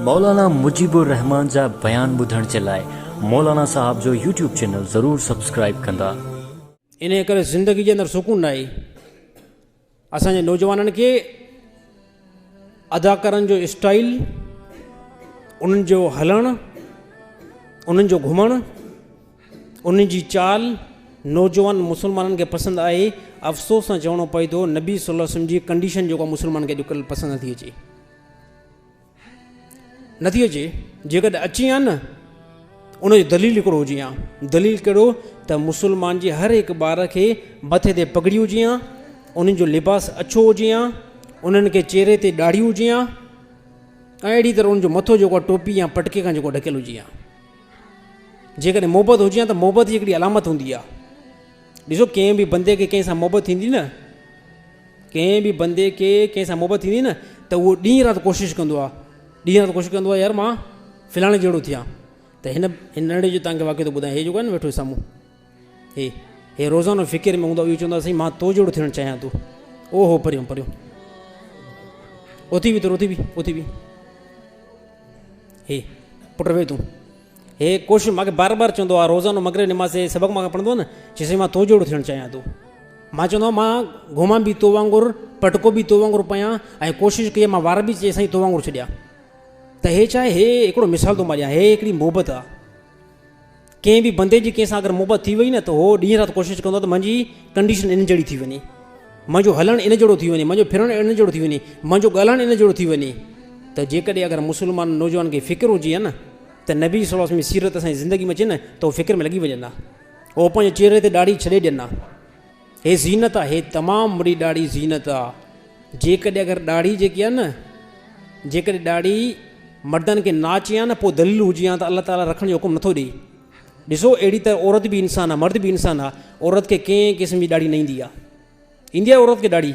مولانا مجيب الرحمان جا بيان ٻڌڻ جي لاء مولانا صاحب جو يوٽيوب چينل ضرور سبسڪرائيب ڪندا. انهيء ڪري زندگي جي اندر سڪون ناهي. اسان جي نوجوانن کي اداڪارن جو اسٽائيل، انهن جو هلڻ، انهن جو گهمڻ، ان جي چال نوجوان مسلمانن کي پسند آئي. افسوس سان چوڻو پئي ٿو نبي صلي الله عليه وسلم جي ڪنڊيشن جيڪا مسلمانن کي اڄڪلهه پسند نٿي اچي. نٿي اچي جيڪڏهن اچي ها نه ان جو دليل هڪڙو هجي ها دليل ڪهڙو ته مسلمان جي هر هڪ ٻار کي مٿي تي پگڙي هجي ها انهن جو لباس اڇو هجي ها انهن کي چهري تي ڏاڙهي هجي ها ۽ اهڙي طرح ان جو مٿو جيڪو ٽوپي يا پٽڪي کان جيڪو ڍڪيل هجي ها جيڪڏهن محبت هجي ها ته محبت جي هڪڙي علامت هوندي آ ڏسو ڪنهن به بندي کي ڪنهن سان محبت ٿيندي نه ڪنهن به بندي کي ڪنهن سان محبت ٿيندي نه ته اهو ڏينهن رات ڪوشش ڪندو آ ڏينهن رات ڪوشش ڪندو آ يار مان فلاڻي جهڙو ٿيان ته هن هن ننڍي جو تنگ واقعي ٿو ٻڌايان هي جيڪو آ نه ويٺو سامهون هي هي روزانو فڪر ۾ هوندو اهو چوندو سائين مان تو جهڙو ٿيڻ چاهيان ٿو او هو پريون پريون اٿي وي تو اٿي وي اٿي وي هي پٽ روي تون هي ڪوشش ماکي بار بار چوندو آ روزانو مغرب نماز سي سبق ماکي پڙھندو نه چي سي مان تو جوڙو ٿيڻ چاهيان ٿو مان چوندو مان گهومان به تو وانگر پٽڪو به تو وانگر پيان ۽ ڪوشش ڪي مان وار به چي سائين تو وانگر ڇڏيا ته هي چاهي هي هڪڙو مثال تو مان ڏيان هي هڪڙي محبت آ ڪنهن به بندي جي ڪنهن سان اگر محبت ٿي وئي نه ته هو ڏينهن رات ڪوشش ڪندو ته منهنجي ڪنڊيشن ان جهڙي ٿي وڃي منهنجو هلڻ ان جهڙو ٿي وڃي منهنجو ڦرڻ ان جهڙو ٿي وڃي منهنجو ڳالهائڻ ان جهڙو ٿي وڃي ته جيڪڏهن اگر مسلمان نوجوان کي فڪر هجي ها نه ته نبي صلي الله علیه زندگي ۾ اچي نه ته هو فڪر ۾ لڳي وڃن ها هو پنهنجي چهري تي ڏاڙهي ڇڏي ڏين ها هي زينت آ هي تمام وڏي ڏاڙهي زينت آ جيڪڏهن اگر ڏاڙهي جيڪي آ نه جيڪڏهن ڏاڙهي مردن کي نا اچي ها نه پو ذليل هجي ها ته الله تعالي رکڻ جو حڪم نٿو ڏي ڏسو اهڙي طرح عورت به انسان آ مرد به انسان آ عورت کي ڪنهن قسم جي ڏاڙهي نه ايندي آ ايندي آ عورت کي ڏاڙهي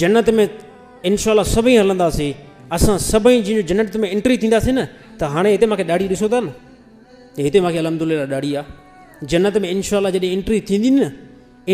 جنت ۾ انشاء الله سڀئي هلنداسين اسان سڀئي جن جنت ۾ انٽري ٿينداسين نه ته هاڻي هتي ماکي ڏاڙهي ڏسو ٿا نه هتي ماکي الحمد لله ڏاڙهي آ جنت ۾ انشاء الله جڏهن انٽري ٿيندي نه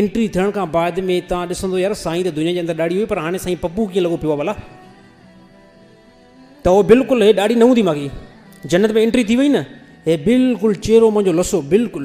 انٽري ٿيڻ کان بعد ۾ تان ڏسندو يار سائين ته دنيا جي اندر ڏاڙي هئي پر هاڻي سائين پپو ڪيئن لڳو پيو بلا ته هو بلڪل هي ڏاڙي نه هوندي ماڳي جنت ۾ انٽري ٿي وئي نه هي بلڪل چهرو منهنجو لسو بلڪل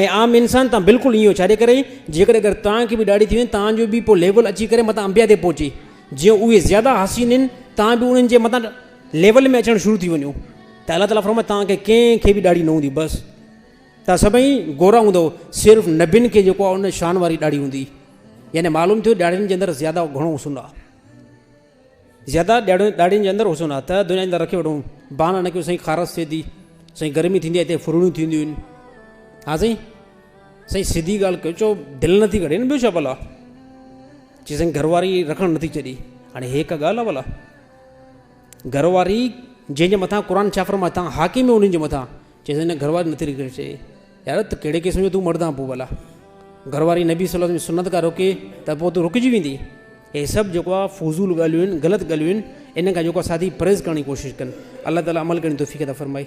۽ عام انسان تان بلڪل ايئن ڇاجي ڪري جيڪڏهن اگر توهان کي به ڏاڙهي ٿي وڃي توهان جو به پوء ليول اچي ڪري متان انبيا تي پهچي جيئن اهي زياده حسين آهن توهان به انهن جي متان ليول ۾ اچڻ شروع ٿي وڃو ته الله تعالیٰ فرمائي توهان کي ڪنهن کي به ڏاڙهي نه هوندي بس توهان سڀئي گورا هوندو صرف نبين کي جيڪو ان شان واري ڏاڙهي هوندي يعني معلوم ٿيو ڏاڙهين جي اندر زياده گهڻو حسن آهي زياده ڏياڙين ڏاڙهين جي اندر حسن آ ته دنيا جي اندر رکي وٺون بهانه نه ڪيون سائين خارس ٿئي ٿي سائين گرمي ٿيندي آ هتي ڦرڙيون ٿينديون آهن ها سائين سائين سڌي ڳالهه ڪيو چو دل نٿي ڪري نه ٻيو ڇا ڀلا چي سائين گهر واري رکڻ نٿي ڇڏي هاڻي هي ڪا ڳالهه آ ڀلا گهر واري جنهن جي مٿان قرآن ڇا فرمائي تان حاڪم هي انهن جي مٿان چيس ان گهر واري نٿي رڪي چئي يار ته ڪهڙي قسم جو تون مرد آن پو ڀلا گهر واري نبي صلي الله عليه وسلم سنت کا روڪي ته پو تون رڪجي ويندي هي سڀ جيڪو آ فضول ڳالهيون آهن غلط ڳالهيون آهن ان کان جيڪو ساٿي پرهيز ڪرڻ جي ڪوشش ڪن الله تعالي عمل ڪرڻ توفيق عطا فرمائي